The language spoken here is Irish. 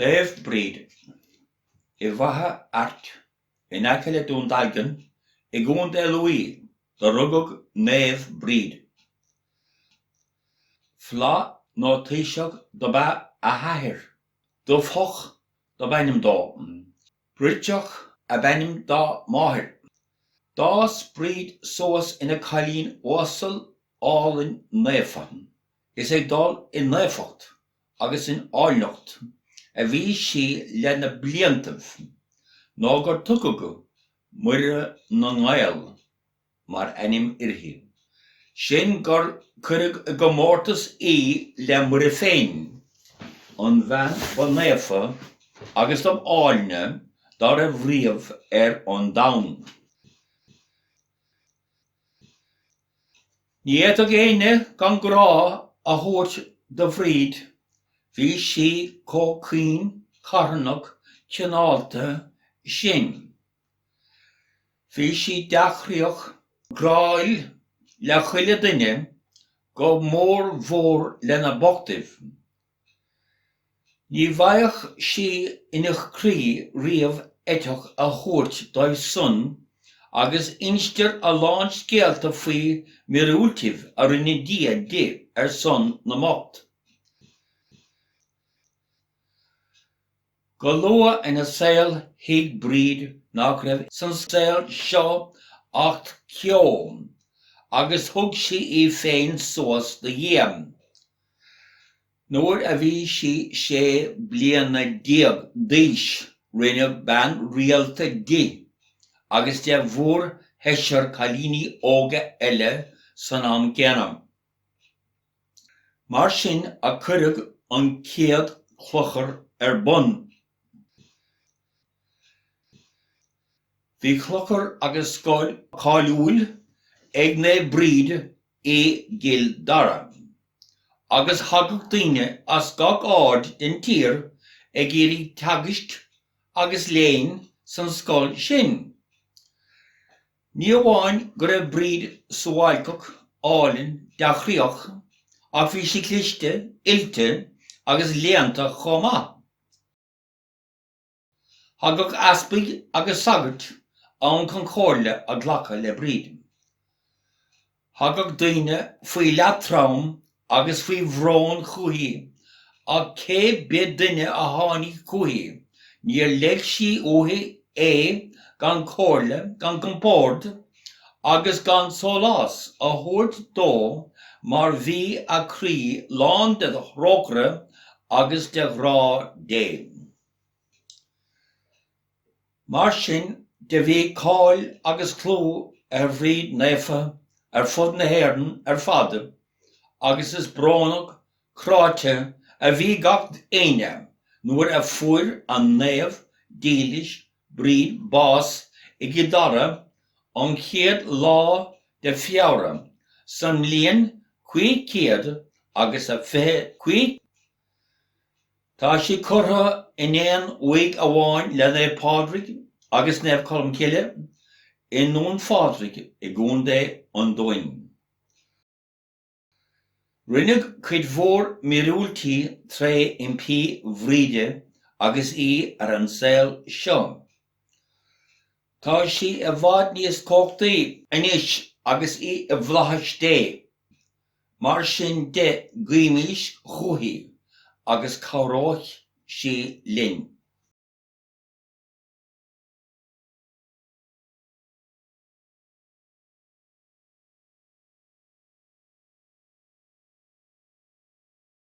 Naomh Bríd, i bhFaiche Airt, in aice le Dún Dealgan i gContae Lú do rugadh Naomh Bríd. Flaith nó taoiseach dob ea a hathair. Dubhthach dob ainm dó. Brighdeach ab ainm dá máthair. D'fhás Bríd suas ina cailín uasal álainn naofa. Is ag dul i naofacht agus in áilneacht a bhí sí le na bliantaibh nó gur tugadh Muire na nGael mar ainm uirthi, sin gur cuireadh i gcomórtas í le Muire féin, an bhean ba naofa agus dob áilne dá raibh riamh ar an domhan. Ní fhéadfadh éinne gan grá a thabhairt do Bhríd, bhí sí chomh caoin, carthanach, cineálta sin. Bhí sí dea-chroíoch, gráúil le chuile duine, go mór mhór le na bochtaibh. Ní bhfaigheadh sí ina croí riamh eiteach a thabhairt dóibh san agus instear a lán scéalta faoi mhíorúiltibh a rinne Dia di ar son na mbocht. Go luath ina saol thuig Bríd nach raibh san saol seo acht ceo agus thug sí í féin suas do Dhia. Nuair a bhí sí sé bliana déag d'aois rinneadh bean rialta di agus de mhórsheisear cailíní óga eile san am céanna. Mar sin a cuireadh an chéad chlochar ar bun. Bhí clochar agus scoil cáiliúil ag Naomh Bríd i gCill Dara agus thagadh daoine as gach aird den tír ag iarraidh teagaisc agus léinn san scoil sin. Ní amháin go raibh Bríd suáilceach, álainn, dea-chroíoch, ach bhí sí cliste, oilte agus léannta chomh maith. Thagadh easpaig agus sagairt ann chun comhairle a ghlacadh le Bríd. Thagadh daoine faoi leatrom agus faoi bhrón chúithi ach cé bith duine a tháinig chúithi níor leig sí uaithi é gan comhairle, gan compord agus gan sólás a thabhairt dó mar bhí a croí lán de thrócaire agus de ghrá Dé. Mar sin de bhí cáil agus clú ar Bhríd Naofa ar fud na hÉireann ar fad agus is brónach cráite a bhí gach éinne nuair a fuair an naomh dílis Bríd bás i gCill Dara an chéad lá de Feabhra san mbliain cúig céad agus a fiche cúig Tá sí curtha in aon uaigh amháin le Naomh Pádraig agus Naomh Colmcille i nDún Phádraig i gContae an Dúin. Rinneadh cuid mhór míorúiltí tré impí Bhríde agus í ar an saol seo. Tá sí i bhfad níos cumhachtaí anois agus í i bhFlaithis Dé. Mar sin de, guímis chúithi agus cabhróidh sí linn.